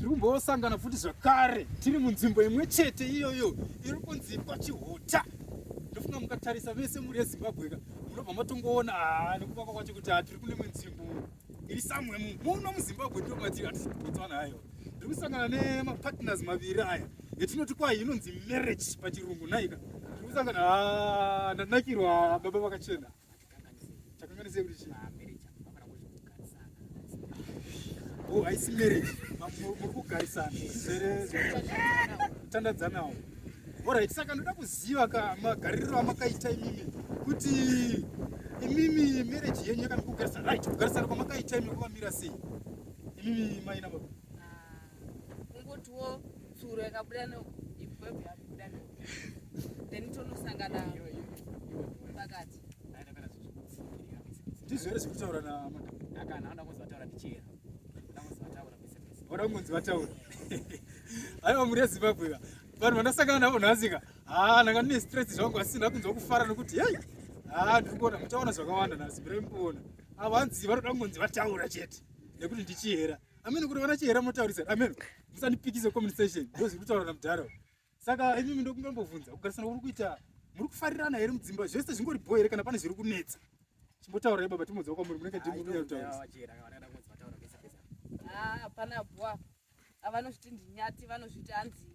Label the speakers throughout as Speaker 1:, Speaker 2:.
Speaker 1: tiri kumbosangana futi zvakare tiri munzvimbo imwe chete iyoyo iri kunzi kwachihuta ndofunga mukatarisa vese muri yezimbabweka munobva matongoona ah, nekuvaka kwacho kuti ah, tiri kune munzvimbo iri samwe muno muzimbabwe ndo matiri atibotswana ayo ndiri kusangana nemapartners maviri aya etinoti kwayi inonzi marriage pachirungu naika ndiri kusangana ah, ndanakirwa baba vakachena Chakanganisei kuti chii? Marriage hapana kuzvikugarisana. Oh, haisi marriage. Muri kugarisana. Zere tandadzanawo. Alright, saka ndoda kuziva ka magariro amakaita imimi kuti imimi marriage yenyu yakamikugarisana right kugarisana kwamakaita imimi kwamira sei imimi maina baba ah, kungotiwo
Speaker 2: tsuro yakabuda no ibwebwe yakubuda no then tonosangana
Speaker 1: pakati tizvere zvekutaura na akana anda kunzi vataura
Speaker 3: ndichera anda kunzi vataura pese pese
Speaker 1: ora kunzi vataura aiwa muri yezimbabwe ka vanhu vandasangana navo nhasi ka haa ah, ndanga ndine stress zvangu asi ndakunzwa kufara nokuti hei haa ah, ndiri kuona muchaona zvakawanda nhasi mirai mukuona avo hanzi vanoda kungonzi vataura chete nekuti ndichihera Ameno kuti vana chihera motaurisa. Ameno. Musandipikise comment section. Ndozi kutaura na mudhara. Saka imi ndo kungambovhunza kugarisana kuri kuita muri kufarirana here mudzimba zvese zvingori boy here kana pane zviri kunetsa. Chimbotaura ye baba timodza kwa muri munenge timu kuya kutaura. Ah, hapana
Speaker 2: bwa. Avanozviti ndinyati vanozviti anzi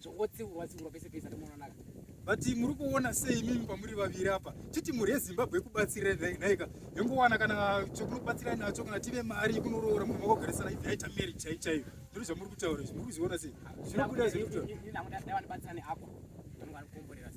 Speaker 3: zvongotsiurwa tsiurwa pese pese tomonanaka but muri
Speaker 1: kuona sei imimi pamuri vaviri apa chiti mhuri yezimbabwe yekubatsira naika yongowana kana chokunobatsira nacho kana tive mari yekunorora munhu makogarisana ive yaita mari chai chaiyo ndiri zvamuri kutaura izvi muri kuzviona sei zvinobuda zvinobuda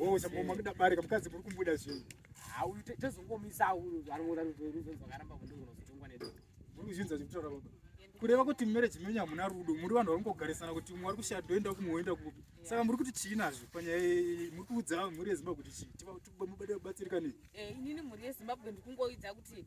Speaker 3: Oh,
Speaker 1: saboma kuda bari kamukadzi kuri kumbuda zvinhu. Ah, uyu tezongomisa
Speaker 3: uyu anoona rudo rudo zvakaramba kundo kunozotongwa nedo. Muri kuzvinza zvekutaura
Speaker 1: baba. Kureva kuti marriage menyu hamuna rudo, muri vanhu vari kungogarisana kuti umwe ari kushaya doenda kumwe woenda kupi. Saka muri kuti chii nazvo panyaya iyi muri kuudza mhuri yeZimbabwe kuti chii? Tiba tiba mubatsirika nei? Eh, inini mhuri yeZimbabwe
Speaker 2: ndikungoidza kuti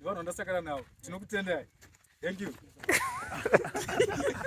Speaker 1: Vanhu vandasakana navo. Tinokutendai. Thank you.